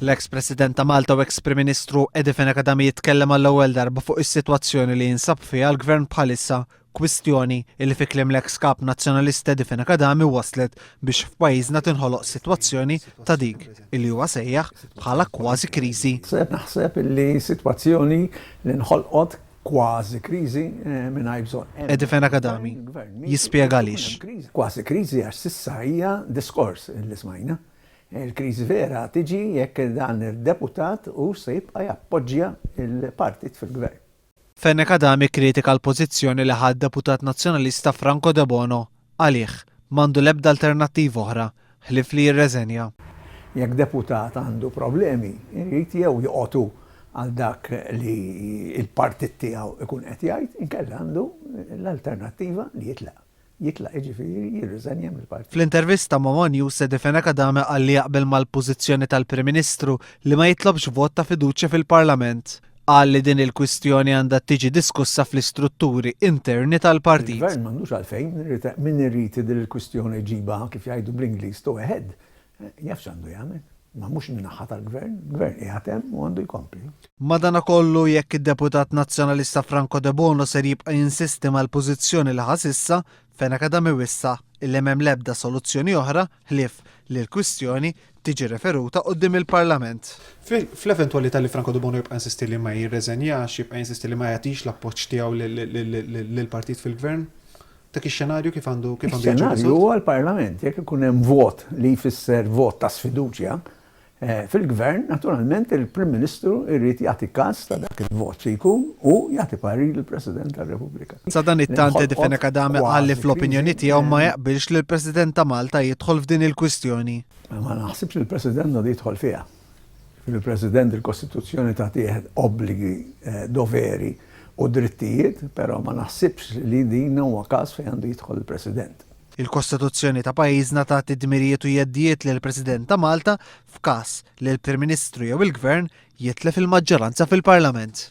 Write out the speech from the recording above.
L-eks President ta' Malta u eks Prim Ministru Eddie Fenech-Adami jitkellem għall-ewwel darba fuq is-sitwazzjoni li jinsab fiha l-Gvern bħalissa, kwistjoni li fi kliem l-eks Kap Nazzjonalist Eddie Fenech-Adami wasslet biex f'pajjiżna tinħoloq sitwazzjoni ta' dik li huwa sejjaħ bħala kważi kriżi. Naħseb li sitwazzjoni li nħolqot Kważi kriżi mingħajr bżonn. Edifen Akadami jispjega għaliex. Kważi kriżi għax s'issa hija diskors li smajna. Il-kriżi vera tiġi jekk dan id-deputat hux se jibqa' jappoġġja l-Partit fil-Gvern. Fenech Adami kkritika l-pożizzjoni li ħa d-deputat Nazzjonalista Franco Debono Għalih, m'għandu l-ebda alternattiva oħra ħlief li jirreżenja. Jekk deputat għandu problemi, irid jew joqgħod hu għal dak li l-partit tiegħu jkun qed jgħid, inkella għandu l-alternattiva li jitlaq. Jitlaq jiġifieri jirriżenja mill-partit. Fl-intervista ma' one News Sedi Fenech Adame qal li jaqbel mal-pożizzjoni tal-Prim Ministru li ma jitlobx vot ta' fiduċja fil-Parlament. Qal li din il-kwistjoni għandha tiġi diskussa fl-istrutturi interni tal-partit. Il-Gvern m'għandux għalfejn, min irid din il-kwistjoni jġibha kif jgħidu bl-Ingliż to a head, jaf x'għandu jagħmel. Imma mhux min-naħa tal-Gvern, il-Gvern qiegħed hemm u għandu jkompli. Madanakollu, jekk id-Deputat Nazzjonalista Franco Debono ser jibqa' jinsisti mal-pożizzjoni li ħa s'issa, Fenacadam iwissa' illi m'hemm l-ebda soluzzjoni oħra ħlief li l-kwistjoni tiġi referuta quddiem il-Parlament. Fl-eventwalità li Franco Debono jibqa' jinsisti li ma jirreżenjax, jibqa' jinsisti li ma jagħtix l-appoġġ tiegħu lill-partit fil-Gvern, dak ix-xenarju kif għandu jiġi riżolt? Ix-xenarju huwa l-Parlament, jekk ikun hemm vot li jfisser vot ta' sfiduċja, Fil-Gvern, naturalment, il-Prim Ministru jrid jagħti każ ta' dak il-vot xi jkun u jagħti parir lill-President tar-Repubblika. Sadanittant Eddie Fenech-Adami qal li fl-opinjoni tiegħu ma jaqbilx li l-President ta' Malta jidħol f'din il-kwistjoni. Ma naħsibx li l-President għandu jidħol fiha. Jiġifieri l-President il-Kostituzzjoni tagħtih obbligi, doveri u drittijiet, però ma naħsibx li din huwa każ fejn għandu jidħol il-President. Il-Kostituzzjoni ta' pajjiżna tagħti dmirijiet u jeddijiet lill-President ta' Malta f'każ li l-Prim Ministru jew il-Gvern jitlef il-maġġoranza fil-Parlament.